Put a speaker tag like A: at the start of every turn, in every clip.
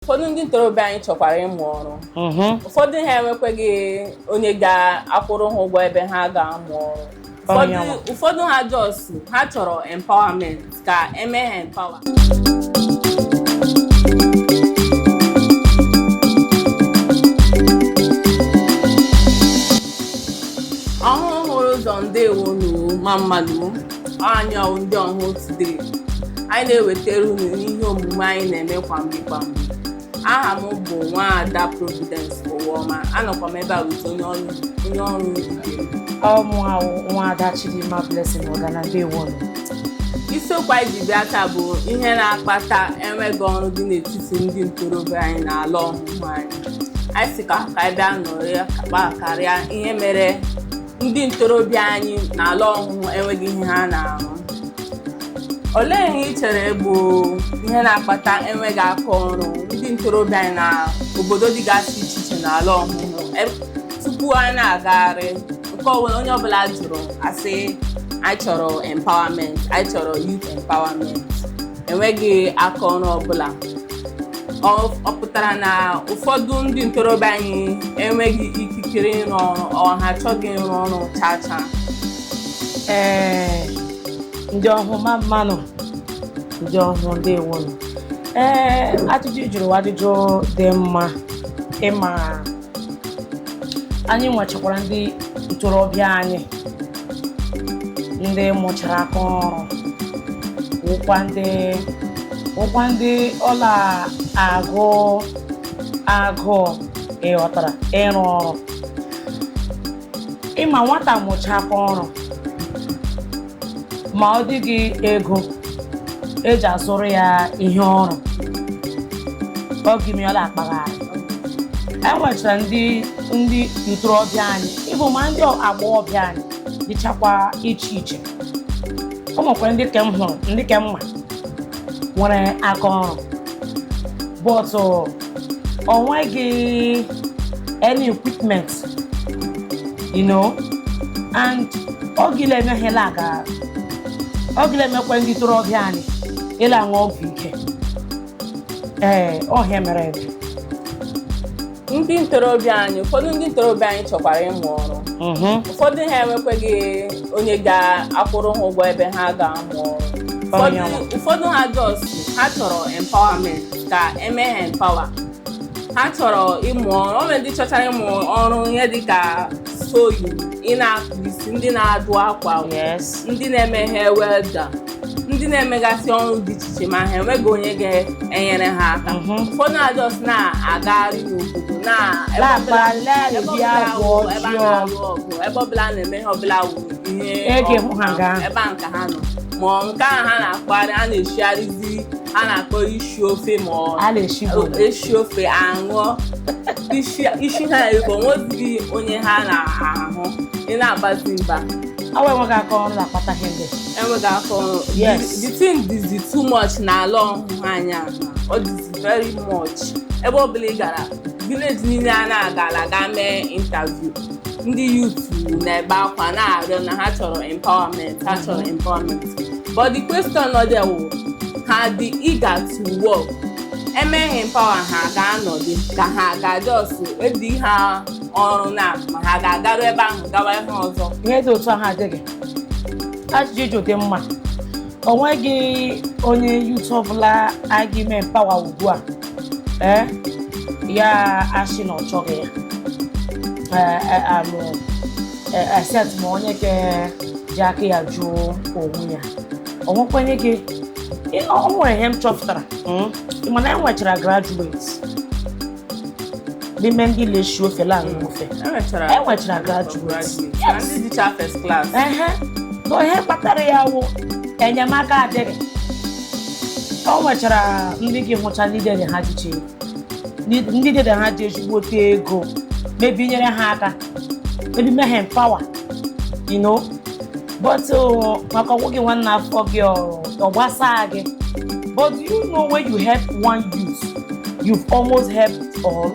A: ụfọdụ ndị ntorobịa anyị chọkwara ịmụ ọrụ mhm. ụfọdụ ha enwekweghị onye ga-akwụrụ ha ụgwọ ebe ha ga-amụ ọrụ ụfọdụ ha just ha chọrọ empowerment ka eme ha empower ọhụhụ hụrụ ụzọ ndewo ma mmanụ anyị wụ ndị ọhụhụ today anyị na-ewetara unu ihe omume anyị na-eme kwa mgbe kwa mgbe aha m bụ nwaada Providence Ụwaọma anọkwa m ebe a with onye ọrụ onye ọrụ ibe m. ọ mụa wụ nwaada
B: Chidimma Blessing Ogana ndewo
A: isiokwu anyị ji bịa taa bụ ihe na-akpata enweghị ọrụ dị n'etiti ndị ntorobịa anyị na ala ọhụhụ anyị anyị sị ka ka anyị bịa nọrọ kpa karịa ihe mere ndị ntorobịa anyị n'ala ọhụhụ enweghị ihe ha na-arụ olee ihe ị chere bụ ihe na-akpata enweghị aka ọrụ ndị ntorobịa anyị na obodo dịgasị iche iche n'ala ọhụhụ E- tupu anyị na-agagharị nke ọbụla onye ọbụla jụrụ asị anyị chọrọ empowerment anyị chọrọ youth empowerment enweghị aka ọrụ ọbụla ọ ọ pụtara na ụfọdụ ndị ntorobịa anyị enweghị ikikere ịrụ ọrụ ọ ha achọghị ịrụ ọrụ chaa chaa
B: ee ndị ọhụhụ ma mmanụ ndị ọhụhụ ndewonu ee ajụjụ ị jụrụ wụ ajụjụ dị mma ị ma anyị nwechakwara ndị ntorobịa anyị ndị mụchara aka ọrụ wụkwa ndị wụkwa ndị ọ la-agụ agụụ ị ghọtara ịrụ ọrụ ị ma nwata mụcha aka ọrụ ma ọ dịghị ego eji azụrụ ya ihe ọrụ ọ gị-eme ya ọ la-akpagharị enwechara ndị ndị ntorobịa anyị even ma ndị agbọghọbịa anyị dịchakwa iche iche o nwekwara ndị ke m hụrụ ndị ke m ma nwere aka ọrụ but o nweghị any equipment you know and ọ gịla eme ha la-aga ọ gịla emekwa ndị ntorobịa anyị ịla aṅụ ọgwụ ike ee ọ ihe mere ebe
A: ndị ntorobịa anyị ụfọdụ ndị ntorobịa anyị chọkwara ịmụ ọrụ Mhm. ụfọdụ ha enwekweghị onye ga-akwụrụ ha ụgwọ ebe ha ga-amụ ọrụ Ụfọdụ- Ọnyanwụ. ụfọdụ ha just ha chọrọ empowerment ka eme ha empower ha chọrọ ịmụ ọrụ o nwere ndị chọchara ịmụ ọrụ ihe dịka sewing ndị na-akpụ isi ndị na-adụ akwa ndị na-eme ihe welder ndị na-emegasị ọrụ dị iche iche ma ha enweghị onye ga-enyere ha aka mhm. ụfọdụ just na-agagharị n'obodo ebe ọbụla na-eme ihe ọbụla wụ ihe ebe a nka ha nọ ma nke a ha na-akpagharị a na-eshigharịzi a na-akpọ isi ofe ma ọ a na-eshigo esi ofe aṅụọ isi isi ha ego nwezighị onye ha na-ahụ ị na-agbazi mba ọ wụ enweghị aka
B: ọrụ na-akpata ihe ndị enweghị aka ọrụ
A: Yes. the thing dịzi too much na ala ọhụhụ anyị a. ọ dịzi very much ebe ọ bụla ị gara village niile a na-agala ga mee interview ndị youth na-ebe akwa na-arịọ na ha chọrọ empowerment ha chọrọ empowerment but the question nọ there wụ ha dị eager to work e mee ha empower ha ga-anọdụ ka ha ga-just edi ha ọrụ na ma ha ga-agaru ebe ahụ gawa ihe ọzọ Ihe dị otu ahụ adịghị.
B: Ajụjụ dị mma. o nweghị onye youth ọbụla a ga-eme empower ugbu a ee ya asị na ọ chọghị ya ee except ma onye ke ji aka ya jụọ onwe ya o nwekwanye gị o nwere ihe m chọpụtara mana e nwechara graduate n'ime ndị la-eshi ofe la-aṅụ ofe enwechara enwechara graduate graduate na ndị dịcha
A: first class ehe na ihe
B: kpatara ya wụ enyemaka adịghị o nwechara ndị gị hụcha ndị dede ha jicha ego Ndị- ndị dede ha ji ezigbote ego mebi nyere ha aka mebi mee ha empower you know but maka ọ wụghị nwanne afọ gị ọ gbasaa gị but do you know when you help one youth you've almost helped all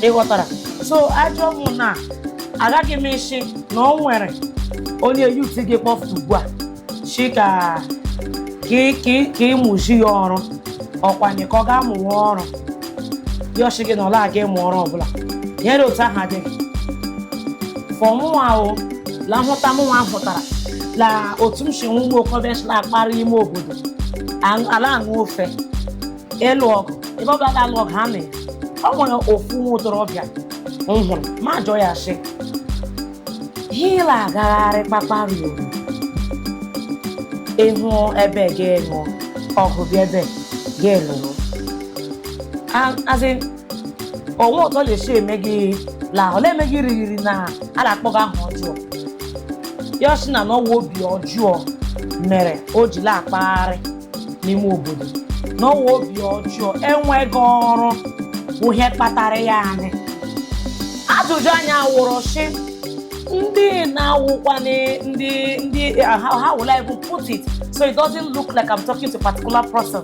B: ị ghọtara so ajọ mụ na agaghị m ịshị na o nwere onye youth gị kpọfụ ugbu a shi ka ka ị- ka ị- ka ịmụzi ya ọrụ ọkwanye ka ọ ga-amụwa ọrụ ya ashị gị na ọla aga ịmụ ọrụ ọbụla ihe dị otu ahụ adịghị for mụnwa ahụ la nhụta mụnwa hụtara la otu m si nwe ụmụ okorobịa si na-akpagharị ime obodo aṅụ- la-aṅụ ofe ịlụ ọgụ ebe ọbụla ga-alụ ọgụ ha mee o nwere ofu nwa okorobịa m hụrụ m ajụọ ya sị Ihe ị la-agagharị kpakparị obodo ịhụ ebe ga-alụ ọgụ bịa ebe ga-enụrụ azị o nwe otu ọ la-esi eme gị la ọ na-eme gị arịrị na a na-akpọ gị aha ọjọọ ya asị na ọ wụ obi ọjọọ mere o ji na-akpagharị n'ime obodo na ọwa obi ọjọọ enweghị ọrụ bụ ihe kpatara ya anyị ajụjụ anyị awụrụ sị ndị na-awụkwa na- ndị ndị uh, how, how will I even put it so it doesn't look like I'm talking to a particular person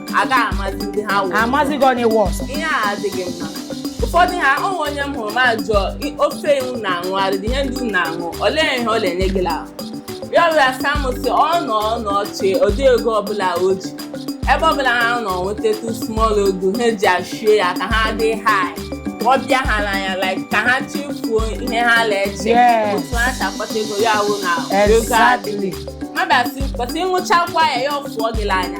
A: aga amazi ndị ha wụ amazighị onye
B: worse ihe a adịghị
A: mma ụfọdụ ha o nwere onye m hụrụ m ajụọ "I- ofe iwu na-aṅụ ụdị ihe ndị unu na-aṅụ olee ihe ọ na-enye gị ahụ ya were asa m sị ọ nọ ọ nọ ọchị ụdị ego ọbụla o ji ebe ọbụla ha nọ nwetatụ small ego ha eji achie ya ka ha dị high ọ bịa ha n'anya like ka ha chefuo ihe ha na-eche Yes. otu ha si akpata ego ya wụ na ego adịghị exactly mmadụ asị kwesị ịṅụchakwa ya ya afụọ gị n'anya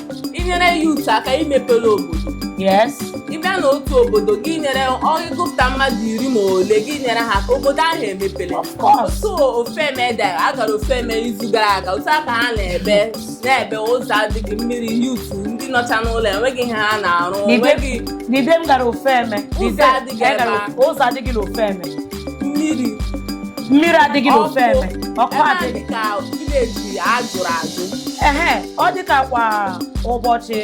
B: inyere
A: youth aka imepere obodo
B: yes ị bịa na
A: otu obodo gị nyere ọ gụpụta mmadụ iri ma ole gị nyere ha aka obodo ahụ emepere of course so Ofeme dara a gara Ofeme izu gara aga otu akwa ha na-ebe na-ebe ụzọ adịghị mmiri youth ndị nọcha n'ụlọ enweghị ihe ha na-arụ N'ibe- enweghị n'ibe m
B: gara Ofeme Ụzọ adịghị ebe a. ụzọ adịghị na Ofeme mmiri mmiri adịghị n'Ofeme Ọkụ. ọkụ ebe a adịghị dị ka
A: village ajụrụ ajụ ehe
B: ọ dị ka kwa ụbọchị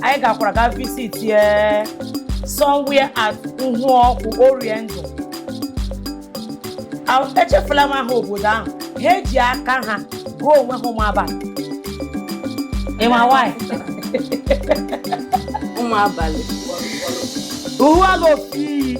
B: anyị gakwara ga visitie somewhere at Uhuokwu Oriendu A- echefula m aha obodo ahụ ha eji aka ha gụọ onwe ha ụmụ abalị ịma nwanyị
A: ụmụ abalị
B: Uhuala ofi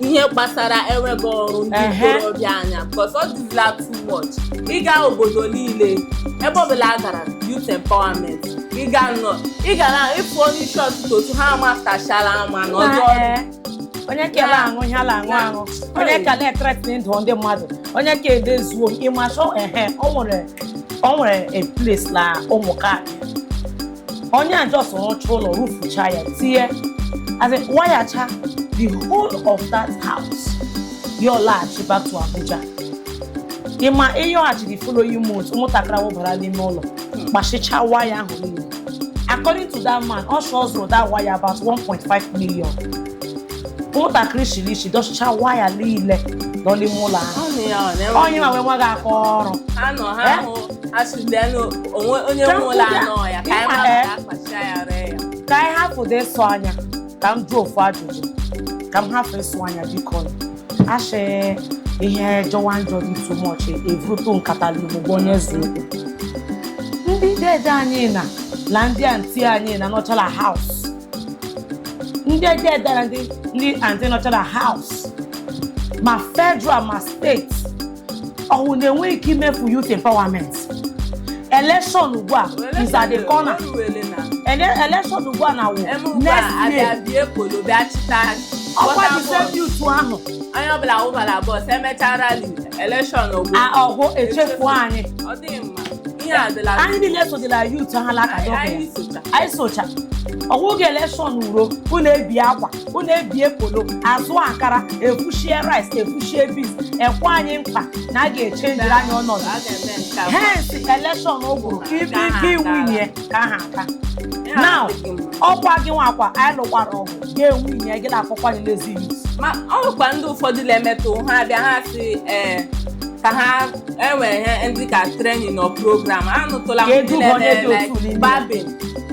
A: ihe gbasara enweghị ọrụ ndị Ehe. ntorobịa anya because ọ dịzila too much ịga obodo niile ebe ọbụla a gara youth empowerment ịga nọ ị gara ịpụ onye isi ọtụtụ otu ha amatachara ama na ọdụ ọdụ Ee,
B: onye ka ele aṅụ ihe a la-aṅụ Ya. aṅụ onye ka na-ethreaten ndụ ndị mmadụ onye ka edezuo ị ma so ehe o nwere o nwere a place na ụmụ ka onye a just rụcha ụlọ rụfucha ya tinye as in wayacha the whole of that house ya alaghachi back to Abuja ịma ịyọghachi the following month ụmụntakịrị ahụ bara n'ime ụlọ kpachịcha waya ahụ niile according to that man ọ sị ọ zụrụ that waya about 1.5 million ụmụntakịrị shiri ishi dọchịcha waya niile nọ n'ime ụlọ ahụ Ọ nụ ya, ọ na-enwe- onye ma wee nweghị aka ọrụ ha nọ ha Eh? hụ
A: asụzianụ onwe onye nwe ụlọ anọ ya ka anyị mara ka akpacha ya ree ya ka anyị hapụdị ịsọ anya ka
B: m jụọ ofu ajụjụ ka m hapụ ịsọ anya biko a shị ihe jọwa njọ dị too much evute nkata n'ugbo onye zuru ndị dede anyị na na ndị anti anyị na nọchala house ndị dede na ndị ndị anti nọchala house ma federal ma state ọwụ na-enweghị ike imefu youth empowerment election ugbu a is at the corner Ele- election ugbu a na wụ next year ọkwa the same youth ahụ onye ọbụla
A: wụbara bọs emechaa rali elekshọn ọ
B: gwụ echefu anyị ọ dịghị
A: mma ihe adịla anyị niile sodịla
B: youth ha laka anyị socha anyị socha ọwụghị election uro unu ebie akwa unu ebie polo azụ akara evushie rice evushie beans ekwe anyị nkwa na a ga-echenjiri anyị ọnọdụ A ga-eme nke a. hence elekshọn ụgwụrụ ka ibe ike iwinye ka ha aka now ọkwa gị nwakwa anyị lụkwara ọgụ gị ewinye gị na-akpọkwa anyị lazy ma ọ nwekwa ndị
A: ụfọdụ na-emetụ ha abịa ha sị ee ka ha e nwere ihe ndị ka training or program anụtụla m ndị na-eme like barbing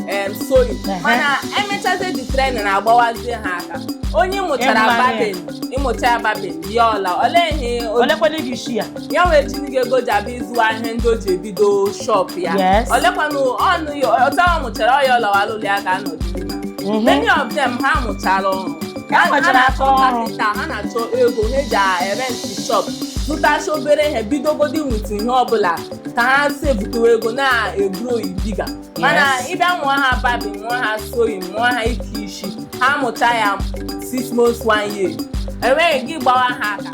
A: em sewing mana emechazie the training na-agbawazie ha aka onye mụchara Imagine. barbing ịmụcha ya barbing bịa ọla olee ihe o- olekwala iji
B: shi ya ya nwee chini
A: ga-ego ji abịa ịzụwa ihe ndị o ji ebido shop ya Yes. olekwanụ ọnụ ya otu ọ mụchara ya ọ lawa l'ụlọ ya ga-anọdụ many of them ha mụchara ọrụ ka ha nwechara na-achọ achọ ọrụ kapịnta ha na-achọ ego ha eji erenti shọp zụtacha obere ihe bidogodi nweta ihe ọbụla ka ha si ebutewa ego na-egrow bigger mana Yes. ịbịa mụwa ha barbing mụwa ha sewing mụwa ha ike isi ha mụcha ya six months one year enweghị gị gbawa ha aka